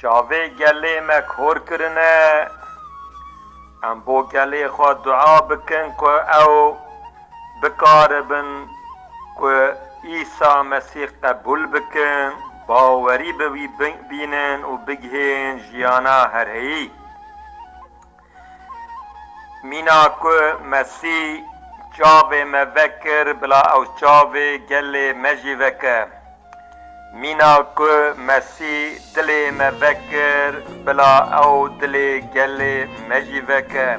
Çavê gelê me kor kirine, em bo gelê xwe dua bikin ku ew bikaribin ku Îsa Mesîh qebûl bikin, bawerî bi wî bînin û bigihîn jiyana herheyî. Mîna ku Mesî çavê me vekir bila ew çavê gelê me jî veke. Mîna ku Mesî dilê me vekir bila ew dilê gelê me jî veke.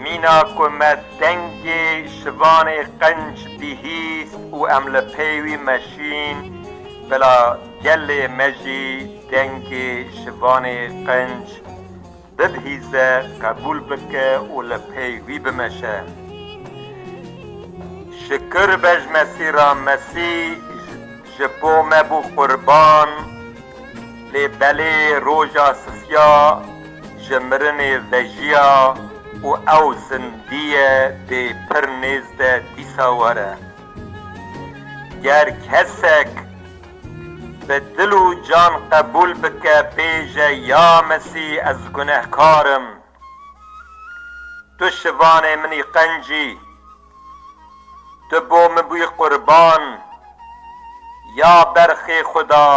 Mîna ku me dengê şivanê qenc bihîst û em li pey wî meşîn bila gelê me jî Kengê şivanê qenc bibihîze, qebûl bike û li pey wî bimeşe. Şikir be ji Mesî ra, Mesî ji bo me bû qurban, lê belê roja sisiya ji mirinê vejiya û ew zindiye dê pir nêzde dîsa were. Ger kesek. Bi dil û can qebûl bike bêje ya Mesî ez gunehkar im. Tu şivanê min î qencî. Tu bo min bûyî qurban. Ya berxê xwe da.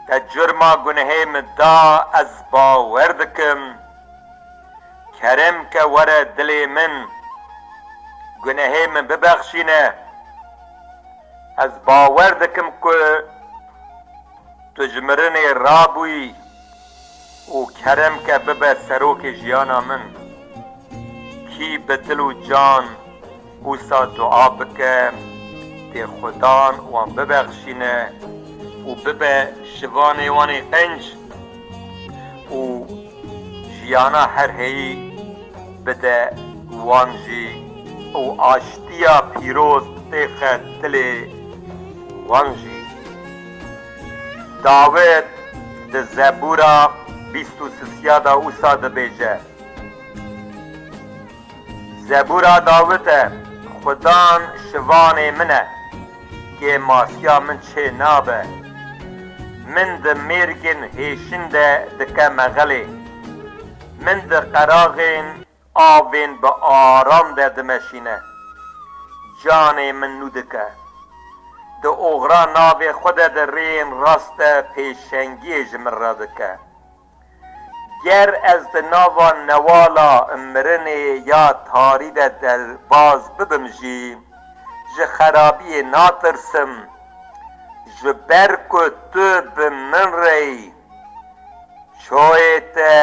Te curma gunehê min da ez bawer dikim Kerem ke were dilê min gunehê min bibexşîne Ez bawer dikim ku tu ji mirinê rabûyî Û kerem ke bibe serokê jiyana min. Kî bi dil û can wisa dua bike tê xudan wan bibexşîne û bibe şivanê wan ê qenc û jiyana her heyî bide wan jî û aştiya pîroz têxe dilê wan jî. Dawid di Zebûra bîst û sisya de wisa dibêje, Zebûra Dawid e, Xudan şivanê min e, kê masiya min çê nabe. Min di mêrgên hêşin de dike mexelê, min di qeraxên Avên bi aram de dimeşîne. Canê min nû dike. Di oxira navê xwe de di rêyên rast de pêşengiyê ji min re dike. Ger ez di nava newala mirinê ya tarî de derbaz bibim jî ji xerabiyê natirsim. Ji ber ku tu bi min re yî. Çoyê te,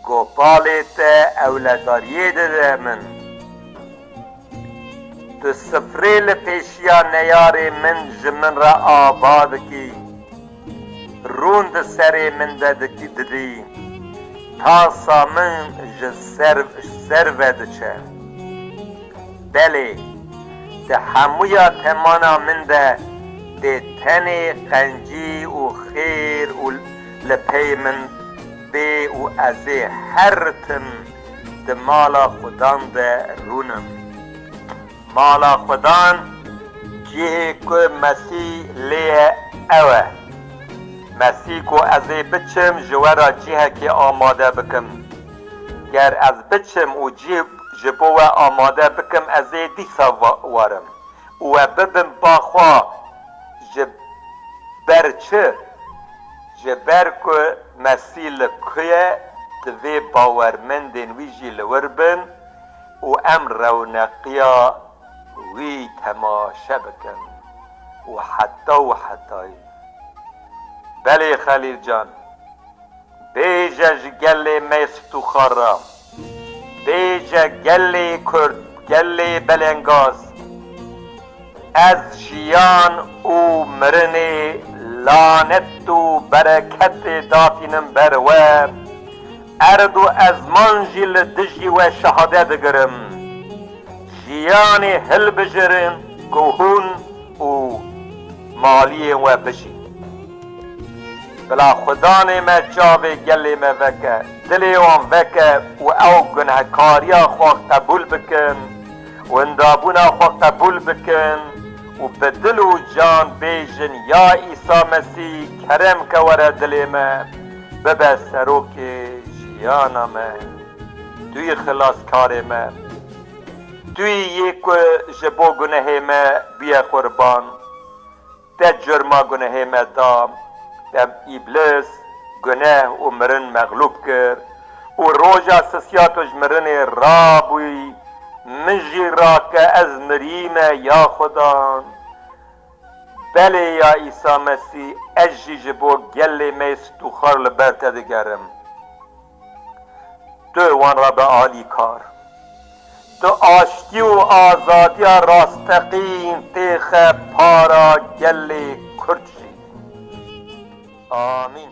gopalê te ewledariyê dide min. Tu sifrê li pêşiya neyarê min ji min re ava dikî, rûn di serê min de didî, tasa min ji ser ve diçe. Belê, di hemûya temana min de dê tenê qencî û xêr û li pey min bê û ezê her tim di mala xwedan de rûnim. Mala xwedan cihê ku Mesî lê ye ew e. Mesî ku ezê biçim ji we re cihekê amade bikim. Ger ez biçim û cih. Ji bo we amade bikim ez ê dîsa warim û we bibim ba xwe ji ber çi? Ji ber ku Mesîh li ku ye divê bawermendên wî jî li wir bin û em rewneqiya wî temaşe bikin û heta û hetayî. Belê Xelîl can, Bêje ji gelê me stûxa re. Bêje gelê Kurd, gelê Belengaz. Ez jiyan û mirinê lanet û bereketê datînim ber we. Erd û ezman jî li dijî we şehadet digirim. Jiyanê hilbijirin ku hûn û maliyên we bijîn. Bila xwedanê me çavê gelê me veke, dilê wan veke û ew gunehkariya xwe qebûl bikin, windabûna xwe qebûl bikin û bi dil û can bêjin ya Îsa Mesî kerem ke were dilê me, bibe serokê jiyana me. Tu yî xilaskarê me. Tu yî yê ku ji bo gunehê me bûye qurban. Te curma gunehê me da, te îblis, guneh û mirin mexlûb kir û roja sisiya tu ji mirinê rabûyî, min jî ra ke ez mirîme ya Xweda. Belê ya Îsa Mesî, ez jî ji bo gelê me yê stûxar li ber te digerim. Tu wan re bi alî kar. Tu aştî û azadiya rasteqîn têxe para gelê Kurd jî. Amîn.